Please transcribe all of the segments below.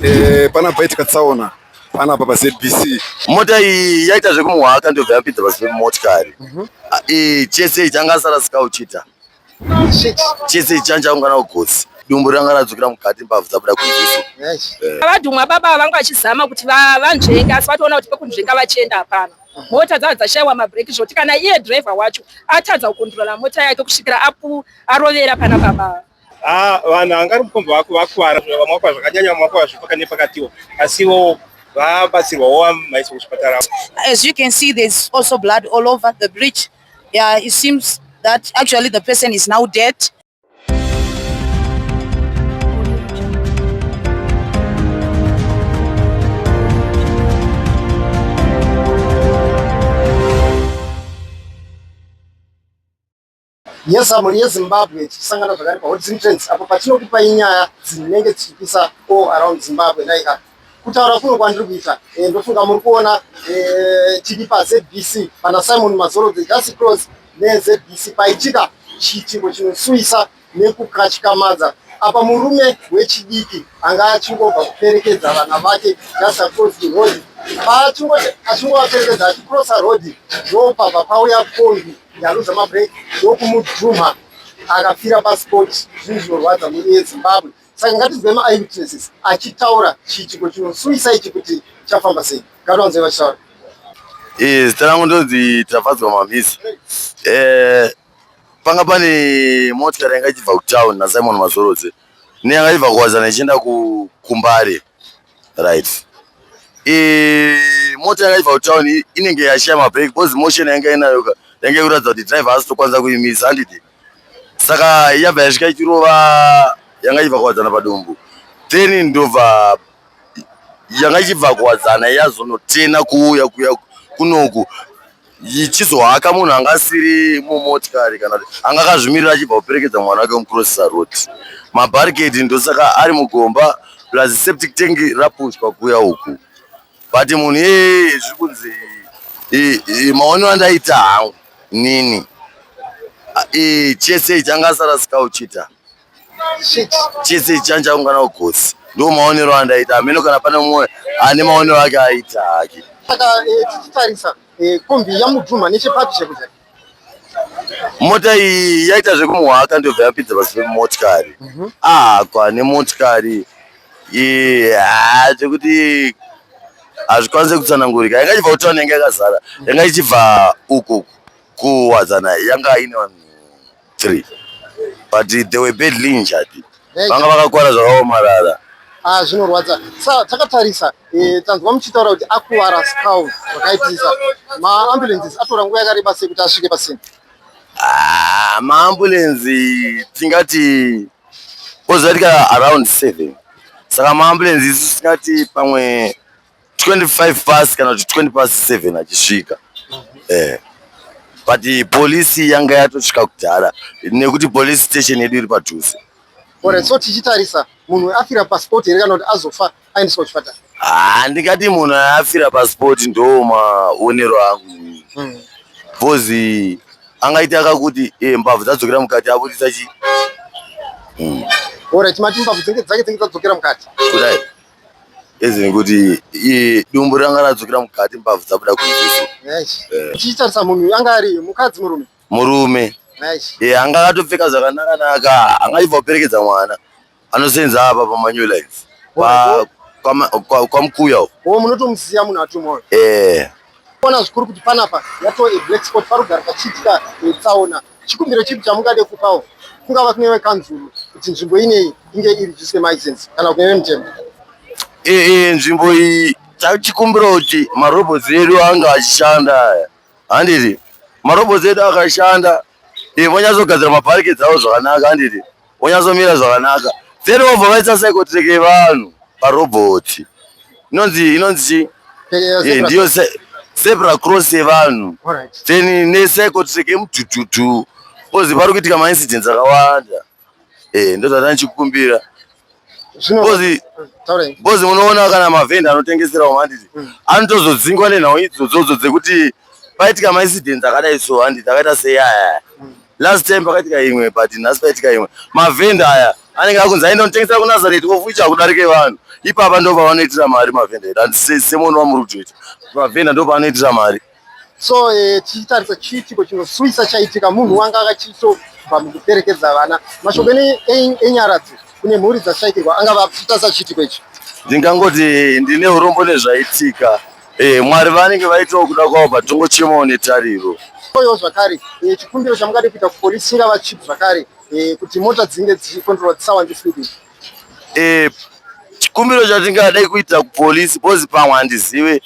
Eh, pana paitika tsaona panapa pa ZBC mota iyi yaita zvekumuhaka ndobva yapinza pasi pemotikari mhm. ah, eh, chese ichi anga asara sikauchita chese ichi changa chaungana kugotsi dumbu ranga radzokera mukati mbabvu dzabuda kunziso eh. vadhumwa baba vanga vachizama kuti vanzvenge asi vatoona kuti pekunzvenga vachienda hapana mota dzava dzashaiwa mabreak zvoti kana iye driver wacho atadza kukondrola mota yake kusvikira arovera pana baba Ah, vanhu vangari mukombe vako vakwara vamwakwa zvakanyanya vamwakwa zvipaka nepakatiwo asi ivo vabatsirwawo vamaiswa kuchipatara as you can see there's also blood all over the bridge yeah it seems that actually the person is now dead yeZamuri yeZimbabwe tichisangana zvakare paHotzin Trends apo patinokupa inyaya dzinenge dzichipisa all around Zimbabwe dai ka kutaura kuno kwandiri kuita eh, ndofunga muri kuona eh, tiri paZBC pana Simon Mazoro the Just Cross neZBC paitika chiitiko chinosuwisa nekukatyamadza apa murume wechidiki anga achingobva kuperekedza vana vake Just Cross the Road paachingoti achingovaperekedza achikrosa road ndopabva pauya kombi Ndaluza mabreak ndokumudhumha akafira pasport zvinhu zvinorwadza mhuri yezimbabwe saka ngatizwe maeyewitnesses achitaura chiitiko chinosuisa ichi kuti chafamba sei ngatiwanzoi vachitaura eh, zita rangu ndonzi tafadzwa mamisi eh, panga pane motikari yanga ichibva kutown nasimon mazorodze neyanga ibva kuwazana ichienda kumbare right Eh, mota yakaiva kutown inenge yashaya mabreak because motion yanga inayo ka yanga ikuratidza kuti driver haasi tokwanisa kuimisa handiti saka yabva yasvika ichirova yanga ichibva kuwadzana padumbu then ndobva yanga ichibva kuwadzana yazonotena kuuya kuya kunoku ichizohaka munhu anga asiri mumotikari kana kuti anga akazvimirira achibva kuperekedza mwana wake mucrossisa road mabarricade ndosaka ari mugomba plus septic tank rapushwa kuya uku but munhu iyeye zviri kunzi maonero andaita hangu nini chese ichi anga asarasika uchita chese chancha ungana ugosi ndo maonero andaita ameno kana pane mumwe ane maonero ake aita hake saka eh, tichitarisa eh, kombi yamudhuma nechepapi chekuja mota iyi yaita zvekumuhaka ndobva yapidza pasi pemotikari mhm. ahakwa nemotikari zvekuti hazvikwanise kutsanangurika yanga ichibva kutona yanga yakazara yanga ichibva uku kuwadzana yanga ine vanhu three but they were badly injured vanga vakakwara zvakaomarara Ah, zvinorwadza sa takatarisa e, tanzwa muchitaura kuti akuvara scal zvakaitisa maambulances atora nguva yakareba sei kuti asvike pasina ah, maambulansi tingati ozovatika around seven saka maambulansi isu tingati pamwe 25 past kana kuti 20 past 7 achisvika eh but police yanga yatosvika kudhara nekuti police station yedu iri padhuze Alright, so tichitarisa munhu afira passport here kana kuti azofa aendeswa kuchipatara Ah, ndingati munhu afira passport ndo maonero angu mm. bhozi angaita akakuti eh, mbavhu dzadzokera mukati abudisa chi mm. Alright, mati mbavhu dzenge dzake dzenge dzadzokera mukati kudai As in kuti iye dumbu ranga radzokera mukati mbabvu dzabuda kunze so. Tichitarisa munhu uyu anga ari mukadzi murume. Murume. Eh anga akatopfeka zvakanaka naka anga achibva kuperekedza mwana. Anosenza apa pamanyu life. Pa kwamukuya uko. Wo munotomusiya munhu atumwa uyu. Eh. Ona zvikuru kuti panapa yatove black spot parugare pachiitika tsaona. Chikumbiro chipi chamungade kupawo kungava kune vekanzuru kuti nzvimbo ineyi inge iri just maisense kana kune vemutemo? Ee, nzvimbo iyi tachikumbira kuti marobots edu ange achishanda aya handiti marobots edu akashanda vonyatsogadziramabharike dzavo zvakanaka handiti wonyatsomira zvakanaka then wobva vaisa psychotrek yevanhu parobhoti inonzi inonzi eh, ndiyo zebra cross yevanhu then nepsychotrek yemudhudhudhu kozi pari kuitika maincidents akawanda eh, ndozvatanichikumbira bcoz munoona kana mavhenda anotengeserawo handiti mm. anotozodzingwa nenhau idzodzodzo dzekuti paitika maincidents akadai so handiti akaita seyaya mm. last time pakaitika imwe but nhasi paitika imwe mavhenda aya anenge akunzi aenda kunotengesera kunazareti ofuicha kudarike vanhu ipapa ndo pavanoitira mari mavhenda edu handisei semono vamuri kutoita mavhenda ndo pavanoitira mari so eh, tichitarisa eh, chiitiko chinosuwisa chaitika munhu wanga akachitobva mukuperekedza vana mashoko enyaradzo kune mhuri dzashaikirwa angava achitarisa chiitiko ichi ndingangoti ndine urombo nezvaitika eh, mwari vanenge vaitawo kuda kwavo patongo chemawo netariro oyo zvakare eh, chikumbiro chamungade kuita kupolisi ingava chipi zvakare eh, kuti mota dzinge dzichikontrola dzisawande speeding eh, chikumbiro chatingadai kuita kupolisi bozi pamwe handizive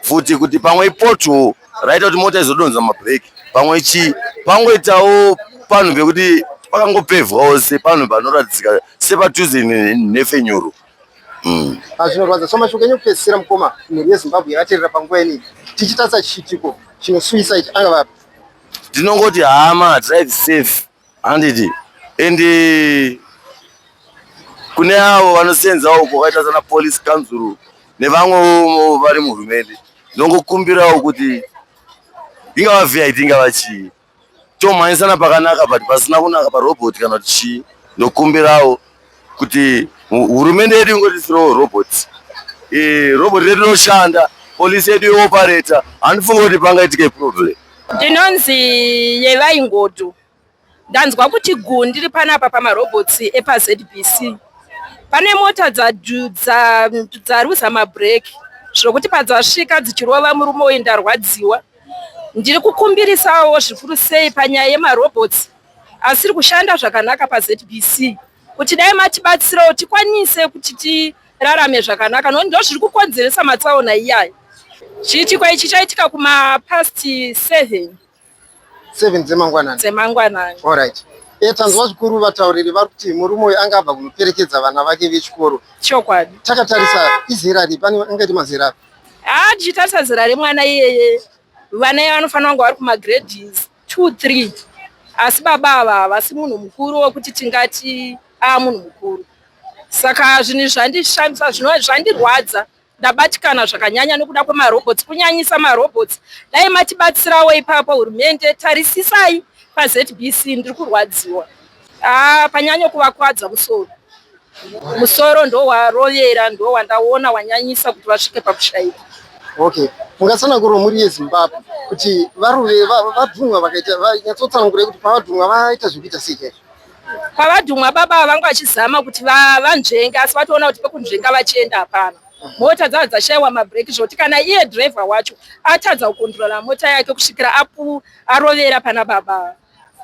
futi kuti pamwe ipothole raita kuti mota izodonza mabheki pamwe chii pangoitawo panhu pekuti pakangopevhwawo se panhu panoratidzika sepadhuze nhefenyuro mm. ah, zvinorwadza so mashoko enyu kupedzisira mukoma mhuri yezimbabwe yakaterera panguva inii tichitarisa chiitiko chinosuyisa ichi anga vapi ndinongoti hama drive safe handiti and kune avo vanosenzawo kwakaita sana police council nevamwewo vari muhurumende ndongokumbirawo kuti ingava vid ingava chii tomhanyisana pakanaka but pasina kunaka parobot kana kuti chii ndokumbirawo kuti hurumende yedu ingotisirewo robot e, robot redu rinoshanda polisi yedu yeopareta handifunge kuti pangaitike problem ndinonzi yevai ngodo ndanzwa kuti gu ndiri panapa pamarobots epazbc pane mota dzaruza mabreak zvokuti padzasvika dzichirova murume uyu ndarwadziwa ndiri kukumbirisawo zvikuru sei panyaya yemarobots asiri kushanda zvakanaka paZBC kuti dai matibatsirawo tikwanise kuti tirarame zvakanaka nokuti ndo zviri kukonzeresa matsaona iyayo chiitiko ichi chaitika kumapast seven seven dzemangwanani dzemangwanani allright e tanzwa zvikuru vatauriri vari kuti murume uyu anga abva kunoperekedza vana vake vechikoro chokwadi takatarisa izera ripi ane angaiti mazera api haa tichitarisa zera remwana iyeye vana iye vanofanira kunge vari kumagrades two three asi baba ava havasi munhu mukuru wekuti tingati aa munhu mukuru saka zvinhu izvi zvandishamisa zvinova zvandirwadza ndabatikana zvakanyanya nokuda kwemarobots kunyanyisa marobots dai matibatsirawo ipapo hurumende tarisisai pazbc ndiri kurwadziwa Ah, panyanya kuvakwadza musoro musoro ndo warovera ndo wandaona wanyanyisa kuti vasvike pakushaika okay mungatsanangura mhuri yezimbabwe kuti varuve va- vadhumwa vakaita vanyatsotsanangura kuti pavadhumwa vaita zvekuita sei chaizvo pavadhumwa baba ava vanga vachizama kuti va- vanzvenge asi vatoona kuti pekunzvenga vachienda hapana mota dzava dzashaiwa mabreak zvekuti kana iye driver wacho atadza kukondirola mota yake kusvikira apu arovera pana baba ava.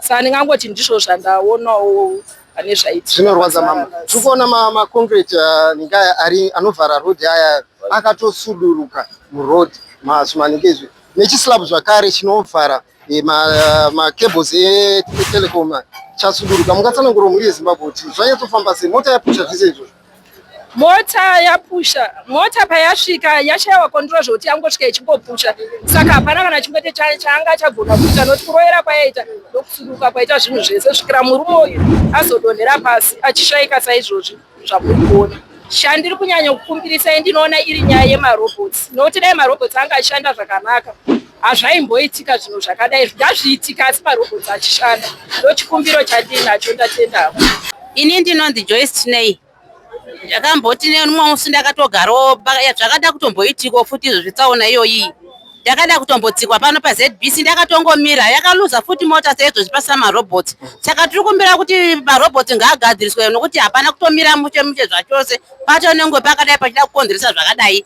Saka ndingangoti ndizvo zvandaonawo pane zvaiti. Zvinorwadza mama. Tiri kuona ma, ma concrete uh, ningaya ari anovhara road aya akatosuduruka muroad masumanike izvi nechislab zvakare chinovhara eh, ma, uh, ma cables etelecom chasuduruka. Mungatsanangura mhuri yeZimbabwe kuti zvanyatsofamba sei mota yapucha zvese izvozvo. mota yapusha mota payasvika yashaiwa kondiro zvekuti yangosvika ichingopusha saka hapana kana chimwete chaanga achagona kuita nokuti kuroyera kwayaita ndokusuduka kwaita zvinhu zvese kusvikira murume uyu azodonhera pasi achishaika saizvozvi zvamuri kuona chandiri kunyanya kukumbirisai ndinoona iri nyaya yemarobots nokuti dai marobots anga achishanda zvakanaka hazvaimboitika zvinhu zvakadai zvingazviitika asi marobho dzachishanda ndochikumbiro chandiinacho ndatendavo ini ndinonzi joyce chinei ndakamboti neumwe musi ndakatogarawo zvakada kutomboitiko futi izvo zvitsaona iyoyi ndakada kutombotsikwa pano pazbc ndakatongomira yakaluza futi mota seizvozvi pasina marobot saka tiri kumbira kuti marobot ngaagadziriswe nokuti hapana kutomira muche muche zvachose patonengwe pakadai pachida kukonzeresa zvakadai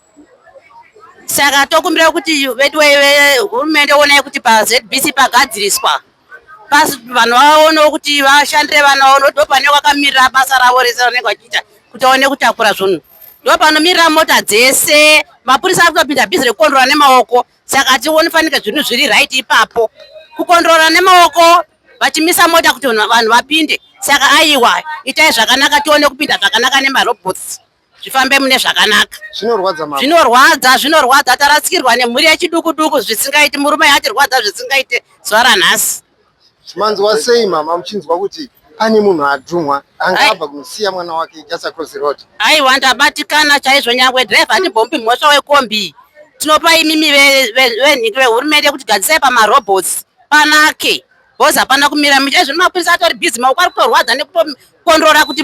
saka tokumbira kuti veduwei vehurumende onai kuti pazbc pagadziriswa pasi vanhu vaonewo kuti vashandire vana vavo nokuti ndopane vakamirira basa ravo rese ravanenge vachiita kuti vaone kutakura zvunhu ndopanomirira mota dzese mapurisa ari kutopinda bhizi rekukondrora nemaoko saka tioni fanike zvinhu zviri right ipapo kukondrora nemaoko vachimisa mota kuti vanhu vapinde saka aiwa itai zvakanaka tione kupinda zvakanaka nemarobots zvifambe mune zvakanaka zvinorwadza mama zvinorwadza zvinorwadza tarasikirwa nemhuri yechiduku duku zvisingaiti murume yatirwadza zvisingaite zuva ranhasi manzwa sei mama muchinzwa kuti pane munhu adhumwa anga abva kunosiya mwana wake just across the road aiwa ndabatikana chaizvo nyangwe driver handibhombi mhosva wekombi tinopa imimi venhiki vehurumende kuti gadzisai pamarobots panake Boss hapana kumira misha izvo mapurisa atori busy maoko ari kutorwadza nekutokondrora kuti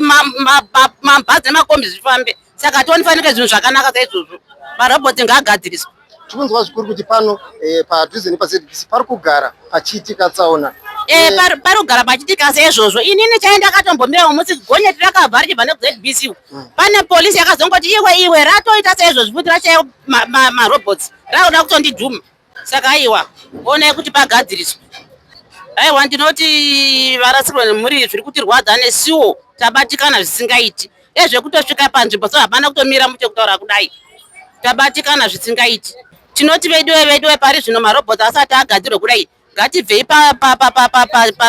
mabhazi nemakombi zvifambe saka ationifanike zvinhu zvakanaka saizvozvo maroboti ngaagadziriswa tikunzwa zvikuru kuti pano eh, padhuze nepazbc pari kugara pachiitika tsaona eh, eh, pari kugara pachiitika seizvozvo inini chai ndakatombomirawo musi gonyeti rakabva richibva nekuzbc hmm. pane polisi yakazongoti iwe iwe ratoita seizvozvo futi rachaiwo marobots raoda kutondidhuma saka aiwa onai kuti pagadziriswe aiwa ndinoti varasikirwa nemhuri zviri kutirwadza nesuwo tabatikana zvisingaiti ezvekutosvika panzvimbo so hapana kutomira muti kutaura kudai tabatikana zvisingaiti tinoti veduwe veduwe pari zvino marobot asati agadzirwe kudai ngatibvei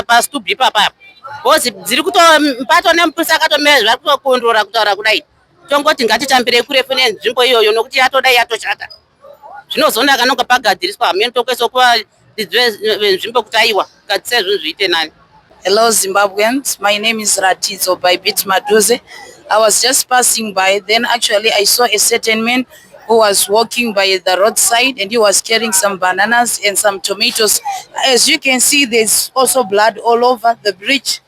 pastub ipapaya bcause dziri kuto mpato nemuprisi akatomira zvari kutokondrora kutaura kudai tongoti ngatitambirei kurefu nenzvimbo iyoyo nokuti yatodai yatoshata zvinozonaka nonga pagadziriswa hameno tokuesa kuva venzvimbo kuti aiwa kadzisa izvozvo zviite nani hello zimbabweans my name is ratidzo by bit maduze i was just passing by then actually i saw a certain man who was walking by the roadside and he was carrying some bananas and some tomatoes as you can see there's also blood all over the bridge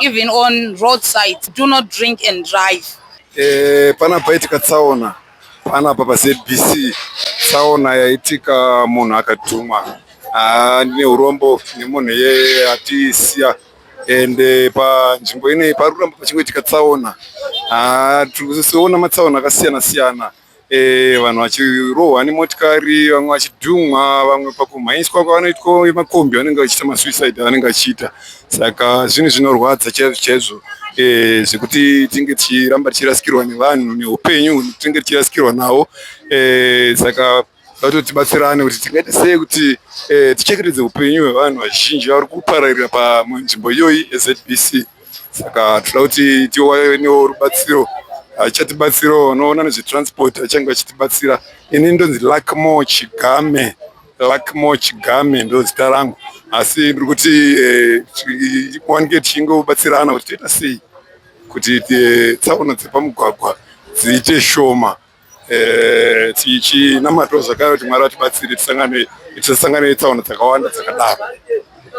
even on road sides do not drink and drive eh, pana paitika tsaona pana papa zbc tsaona yaitika munhu akadhuma ah, ndine urombo nemunhu yeye atisiya ende eh, panzvimbo inei pari kuramba pachingoitika tsaona ah, tiri kusiona matsaona akasiyana siyana, siyana. Eh, vanhu vachirohwa nemotikari vamwe vachidhumwa vamwe pakumhanyiswa kwavanoitwa makombi vanenge vachiita masuicide avanenge vachiita saka zvinhu zvinorwadza chaizvo chaizvo eh, zvekuti tinge tichiramba tichirasikirwa nevanhu neupenyu tinge tichirasikirwa nawo eh, saka vatoti tibatsirane kuti tingaita sei kuti tichengetedze upenyu hwevanhu vazhinji vari kupararira panzvimbo iyoyi ezbc saka tinoda kuti tiwanewo rubatsiro achatibatsirawo anoona nezvetransport achange achitibatsira ini ndonzi luckmore chigame luckmore chigame ndozita rangu asi ndiri kuti eh, ti- wange tichingobatsirana kuti toita sei kuti eh, tsaona dzepamugwagwa dziite shoma Eh, tichinamatawo zvakare kuti mwari vatibatsire tisasangane netsaona dzakawanda dzakadaro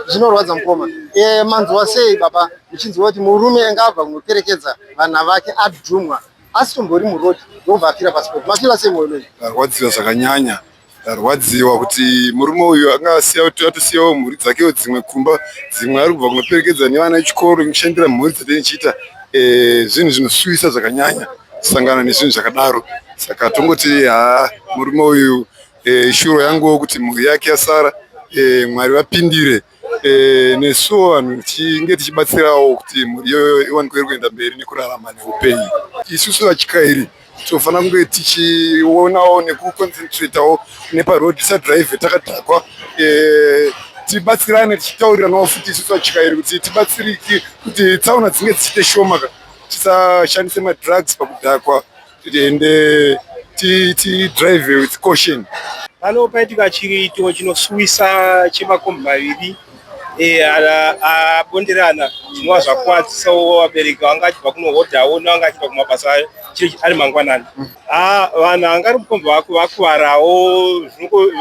zvinorwadza mukoma eh, manzwa sei baba muchinzwa kuti murume anga abva kunoperekedza vana vake adhumwa asitombori murodi ndobva afira pasipoti mafira sei mwoyo menyu arwadziwa zvakanyanya Ndarwadziwa kuti murume uyu anga asiya kuti atosiyawo mhuri dzakewo dzimwe kumba dzimwe ari kubva kunoperekedza nevana vechikoro nekushandira mhuri dzatenge chiita eh, zvinhu zvinosuwisa zvakanyanya kusangana nezvinhu zvakadaro saka tongoti haa murume uyu eh, shuro yanguwo kuti mhuri yake yasara eh, mwari vapindire Eh, nesuwo vanhu tinge tichibatsirawo kuti mhuri iyoyo iwanikwe iri kuenda mberi nekurarama neupenyu isusu vachikairi tinofanira kunge tichionawo nekuconcentratawo neparoad tisadrive takadhakwa eh, tibatsirane tichitauriranawo futi isusu vachikairi kuti tibatsiriki kuti tsaona dzinge dzichiite shoma tisashandise madrugs pakudhakwa tiende tidrive with caution pano paitika chiitiko chinosuwisa chemakombi maviri e, abonderana zvinova zvakuvadzisawo vabereki vanga achibva kunohodhawo nevanga achibva kumabasa ayo chiri ari mangwanani ah, vanhu anga ari mukombi vakuvarawo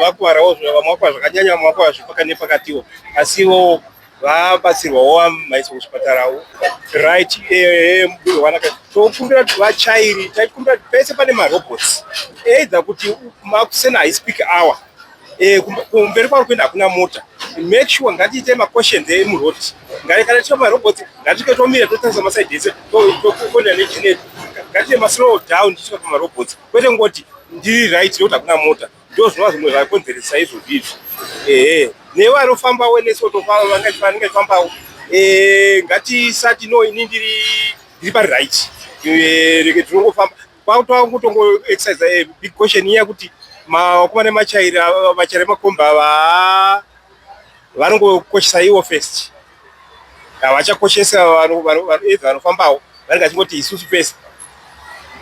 vakuvarawo vamwe vakuvara zvakanyanya vamwe vakuvara zvepakati nepakatiwo asiwo vabatsirwawo maiswa kuchipatarawo right eh, mubiro wanaka tokumbira kuti vachairi taikumbira kuti pese pane marobots either kuti makusena haisi peak hour eh, kumberi kwari kuenda hakuna mota make sure ngatiite maquestions emuroad ngati kana tiita marobots ngatike tomira totarisa maside ese tokonda nechinetu ngatiite maslow down tichika pamarobots kwete ngoti ndiri right nekuti hakuna mota ndozvinova zvimwe zvakonzeresa izvozvi izvi ehe newe anofambawo nesu vanenge fambawo eh, ngatisati no ini ndiri ndiri pari right eh, reke tinongofamba kwakutova kutongoexercise eh, big question iya kuti mawakumane machaira vachaira makomba ava vanongokoshesa iwo first havachakoshesa vanoedza vanofambawo vanenge vachingoti isusu pese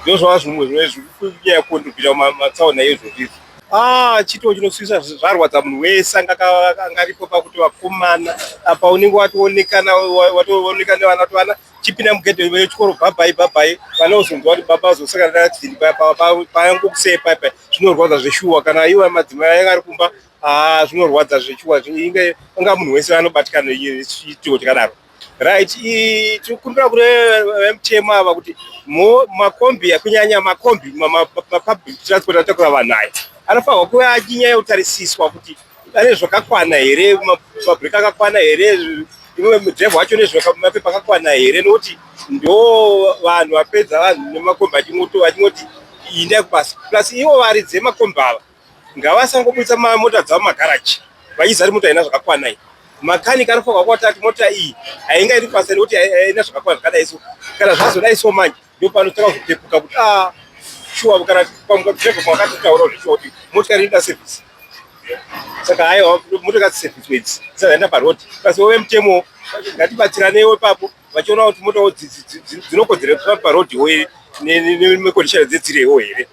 ndozvava zvimwe zvinove zvikunyaya kundopinda mumatsaona iye zvozvizvi ah, chitoo chinosvisa zvarwadza munhu wese anga angaripo pakuti vakomana apa unenge watoonekana watooneka nevana kuti vana chipinda mugedhe vechikoro bhabhai bhabhai vana uzonzwa kuti baba vazosakana naadini payangokusei paipai zvinorwadza zveshuwa kana iwe madzimai aenge ari kumba Ah, zvinorwadza zvechuwa inge unga munhu wese anobatikana chituko chakadaro right tikumbira kune vemutemo ava kuti makombi kunyanya makombi mapublic transport atakura vanhu aya anofanirwa kuve achinyaya yekutarisiswa kuti ane zvakakwana here mabrek akakwana here imwe mudrive wacho nezvemapepa akakwana here nokuti ndo vanhu vapedza vanhu nemakombi achingoti inda kubasa plus ivo varidzi vemakombi ava Ngavasangobudisa mota dzavo magaraji vachizari mota haina zvakakwana iyi. Makanika anofanirwa kuwata kuti mota iyi hainga iri pasai nekuti haina zvakakwana zvakadai so. Kana zvazodai so manje ndopanotanga kupepuka kuti ah shuwa kana pamuka driver kwakatotaura kuti shuwa kuti motikari inoda service. Saka haiwa motokari service idzi dzisazoenda paroad. Kasi wove mutemo ngatibatsiranewo ipapo vachiona kuti motawo dzinokodzera parodhiwo here nemekodishana dzedzirewo here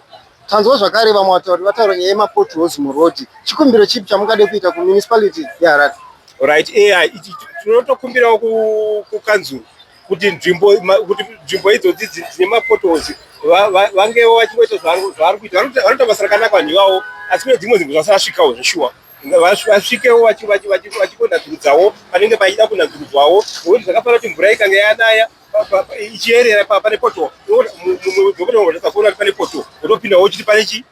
Tanzwa zvakare vamwe vatauri vataura nyaya yemapotholes muroad. Chikumbiro chipi chamungade kuita kuMunicipality yeHarare? Alright, eya ichi tinotokumbirawo ku- kukanzuru kuti nzvimbo ma- kuti nzvimbo idzodzi dzi- dzine mapotholes va- va- vangewo vachingoita zvavari zvavari kuita Vanoita- vanoita basa rakanaka vanhu ivavo asi kune dzimwe nzvimbo dzasarasvikawo zveshuwa Nga- vas- vasvikewo vachi- vachi- vachi- vachikonadzurudzawo panenge pachida kunadzurudzwawo nokuti zvakafana kuti mvura ikange yanaya ichiyerera pane poto ndokuona kuti pane poto unopinda wochiti pane chi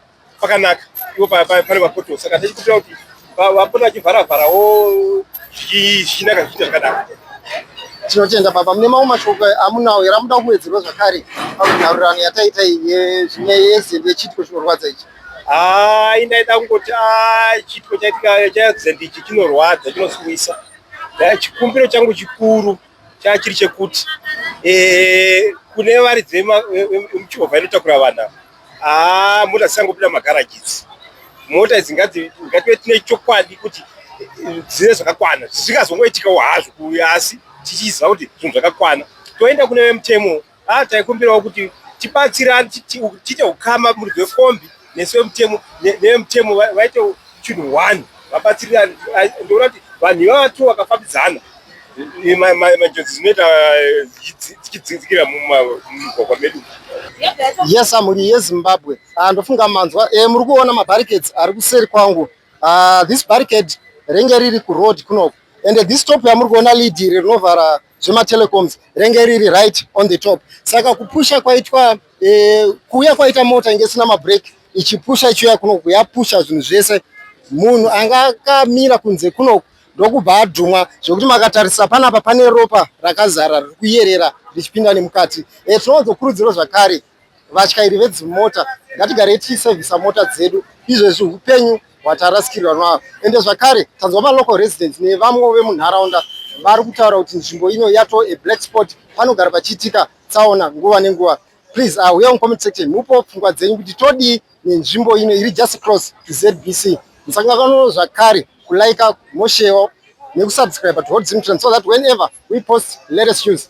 pakanaka iwo pane mapoto saka ndachikupira kuti vapona vachivhara vharawo zvichinaka zvichiita zvakadaro tinotenda baba mune mamwe mashoko amunawo here amuda kuwedzerwa zvakare panhaurirano yataita zvine yezembe yechitiko chinorwadza ichi hai ndaida kungoti ah, chitiko chaitika chazembe ichi chinorwadza chinosuwisa chikumbiro changu chikuru Changa chiri chekuti eh, kune varidzi vemuchovha inotakura vanhu haa ah, mota dzisangopinda mumagaraji idzi mota idzi ngative tine chokwadi kuti eh, dzine zvakakwana zvisingazongoitikawo hazvo kuuya asi tichiziva kuti zvinhu zvakakwana toenda kune vemutemo Ah, taikumbirawo kuti tibatsirane tiite ukama muri vekombi nesu vemutemo nevemutemo vaite chinhu one vabatsirirane ndoona kuti vanhu ivava two vakafambidzana manjodzi dzinoita dzichidzikira mumugwagwa medu yes amhuri yezimbabwe ah, ndofunga manzwa eh, muri kuona mabarricades ari kuseri kwangu ah, this barricade renge riri kuroad kunoku and this top yamuri kuona lead iri rinovhara zvematelecoms renge riri right on the top saka kupusha kwaitwa eh, kuuya kwaita mota inge isina mabreak ichipusha ichiuya kunoku yapusha zvinhu zvese munhu anga akamira kunze kunoku ndokubva adhumwa zvekuti makatarisa panapa pane ropa rakazara riri kuyerera richipinda nemukati e, eh, tinowanzokurudziro zvakare vatyairi vedzimota ngatigarei tichisevhisa mota dzedu izvezvi upenyu hwatarasikirwa navo ende zvakare tanzwa malocal residents nevamwewo vemunharaunda vari kutaura kuti nzvimbo ino yato a black spot panogara pachiitika tsaona nguva nenguva please uh, uya mucomment section mupo pfungwa dzenyu kuti todii nenzvimbo ino iri just cross to zbc musangakano zvakare kulaika moshewo nekusubscribe to hot zimtran so that whenever we post latest news